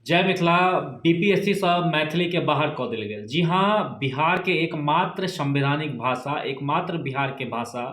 जय मिथिला बीपीएससीसँ मैथिलीके बाहर कऽ देल गेल जी हँ बिहारके एकमात्र संवैधानिक भाषा एकमात्र बिहारके भाषा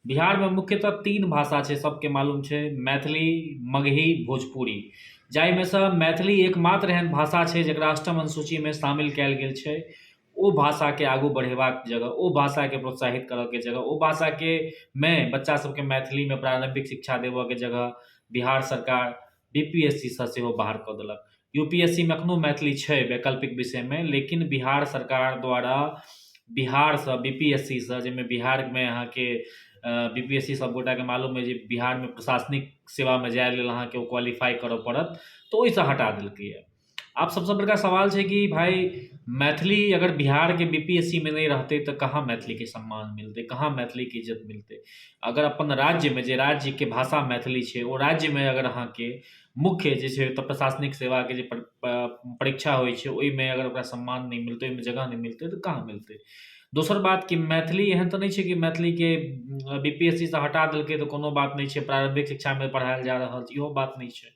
बिहारमे मुख्यतः तीन भाषा छै सबके मालूम छै मैथिली मगही भोजपुरी जाहिमे सँ मैथिली एकमात्र एहन भाषा छै जकरा अष्टम अनुसूचीमे शामिल कयल गेल छै ओ भाषाके आगू बढ़ेबाक जगह ओ भाषाके प्रोत्साहित करऽके जगह ओ भाषाके मे बच्चा सबके मैथिलीमे प्रारम्भिक शिक्षा देबऽके जगह बिहार सरकार बी पी एस सी सँ सेहो बाहर कऽ देलक यू पी एस सी मे एखनो मैथिली छै वैकल्पिक विषयमे लेकिन बिहार सरकार द्वारा बिहारसँ बी पी एस सी सँ जाहिमे बिहारमे अहाँके बी पी एस सी सब गोटाके मालूम अछि जे बिहारमे प्रशासनिक सेवामे जाय लेल अहाँके ओ क्वालिफाइ करय पड़त तऽ ओहिसँ हटा देलकैए आब सबसँ बड़का सवाल छै कि भाइ मैथिली अगर बिहारके बी पी एस सी मे नहि रहतै तऽ कहाँ मैथिलीके सम्मान मिलतै कहाँ मैथिलीके इज्जत मिलतै अगर अपन राज्यमे जे राज्यके भाषा मैथिली छै ओ राज्यमे अगर अहाँके मुख्य जे छै ओतऽ प्रशासनिक सेवाके जे परीक्षा होइ छै ओहिमे अगर ओकरा सम्मान नहि मिलतै ओहिमे जगह नहि मिलतै तऽ कहाँ मिलतै दोसर बात कि मैथिली एहन तऽ नहि छै कि मैथिलीके बी पी एस सी सँ हटा देलकै तऽ कोनो बात नहि छै प्रारम्भिक शिक्षामे पढ़ाएल जा रहल छै इहो बात नहि छै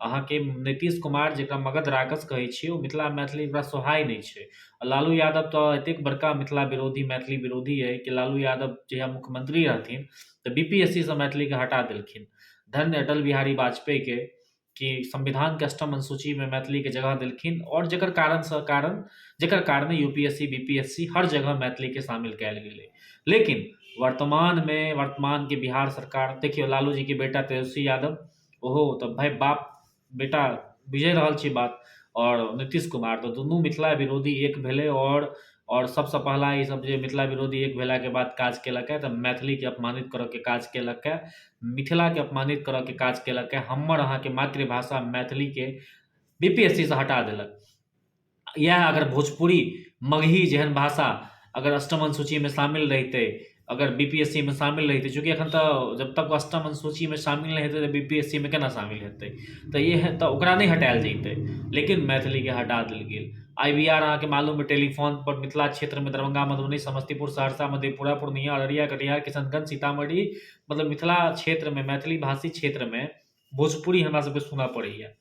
अहाँके नीतीश कुमार जकरा मगध राक्षस कहै छी ओ मिथिला मैथिली ओकरा सोहाइ नहि छै आओर लालू यादव तऽ एतेक बड़का मिथिला विरोधी मैथिली विरोधी अइ कि लालू यादव जहिआ मुख्यमन्त्री रहथिन तऽ बी पी एस सी सँ मैथिलीके हटा देलखिन धन्य अटल बिहारी वाजपेयीके कि संविधानके अष्टम अनुसूचीमे मैथिलीके जगह देलखिन आओर जकर कारणसँ कारण जकर कारणे U P S C B P S C हर जगह मैथिलीके शामिल कयल गेलै लेकिन वर्तमानमे वर्तमानके बिहार सरकार देखियौ लालूजीके बेटा तेजस्वी यादव ओहो तऽ भाय बाप बेटा बुझिए रहल छी बात आओर नीतीश कुमार तऽ दुनू मिथिला विरोधी एक भेलै आओर आओर सभसँ पहिला ईसभ जे मिथिला विरोधी एक भेलाके बाद काज केलक हँ तऽ मैथिलीके अपमानित करयके काज केलक हँ मिथिलाके अपमानित करयके काज केलक हँ हमर अहाँके मातृभाषा मैथिलीके बी पी एस सी सँ हटा देलक इएह अगर भोजपुरी मगही जेहन भाषा अगर अष्टम अनुसूचीमे शामिल रहितै अगर बी पी एस सी मे शामिल रहितै चूँकि एखन तऽ जब तक अष्टम अनुसूचीमे शामिल नहि हेतै तऽ बी पी एस सी मे केना शामिल हेतै तऽ इएह तऽ ओकरा नहि हटायल जयतै लेकिन मैथिलीके हटा देल गेल आइ बी आर अहाँकेँ मालूम अइ टेलीफोनपर मिथिला क्षेत्रमे दरभंगा मधुबनी समस्तीपुर सहरसा मधेपुरा पूर्णिया अररिया कटिहार किशनगंज सीतामढ़ी मतलब मिथिला क्षेत्रमे मैथिली भाषी क्षेत्रमे भोजपुरी हमरासभके सुनय पड़ैए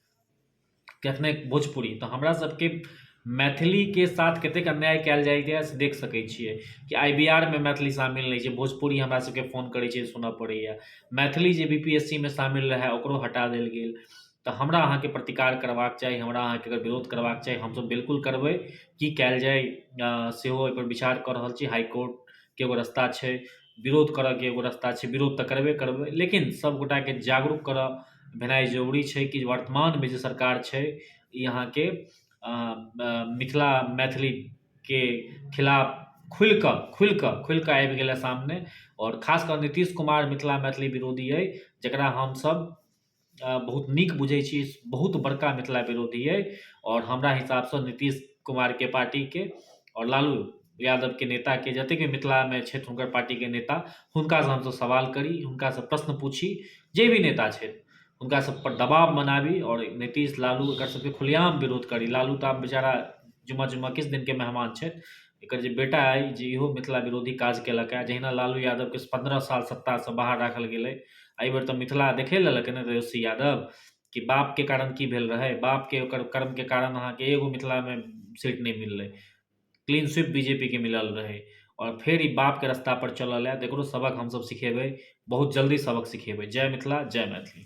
कखने भोजपुरी तऽ हमरा सबके मैथिलीके साथ कतेक अन्याय कयल जाइए से देख सकै छियै कि आइ बिहारमे मैथिली शामिल नहि छै भोजपुरी हमरा सबके फोन करै छै सुनऽ पड़ैये मैथिली जे बी पी एस सी मे शामिल रहै ओकरो हटा देल गेल तऽ हमरा अहाँके प्रतिकार करबाक चाही हमरा अहाँके अगर विरोध करबाक चाही हमसब बिलकुल करबै की कयल जाइ सेहो अइपर विचार कऽ रहल छी हाइ कोर्टके एगो रस्ता छै विरोध करऽके एगो रस्ता छै विरोध तऽ करबे करबै लेकिन सब गोटाके जागरूक करऽ भेनाइ जरूरी छै कि वर्तमानमे जे सरकार छै ई अहाँके मिथिला मैथिलीके खिलाफ खुलिकऽ खुलिकऽ खुलिकऽ आबि गेल अइ सामने आओर खासकऽ नीतीश कुमार मिथिला मैथिली विरोधी अइ जकरा हमसब बहुत नीक बुझैत छी बहुत बड़का मिथिला विरोधी अइ आओर हमरा हिसाबसँ नीतीश कुमारके पार्टीके आओर लालू यादवके नेताके जतेक भी मिथिलामे छथि हुनकर पार्टीके नेता हुनकासँ हमसभ सवाल करी हुनकासँ प्रश्न पूछी जे भी नेता छथि हुनकासभपर दबाव बनाबी आओर नीतीश लालू एकरसभके खुलेआम विरोध करी लालू तऽ आब बेचारा जिम्मा जिम्मा किछु दिनके मेहमान छथि एकर जे बेटा अइ जे इहो मिथिला विरोधी काज केलक हँ जहिना लालू यादव के पन्द्रह साल सत्ता से बाहर राखल गेलै एहि बेर तऽ मिथिला देखे लेलक ने तेजस्वी यादव कि बाप के कारण की भेल रहै बाप के ओकर कर्म के कारण अहाँ के एगो मिथिला मे सीट नहि मिललै क्लीन स्वीप बीजेपी के मिलल रहै और फेर ई बाप के रास्ता पर चलल है एकरो सबक हमसब सिखेबै बहुत जल्दी सबक सिखेबै जय मिथिला जय मैथिली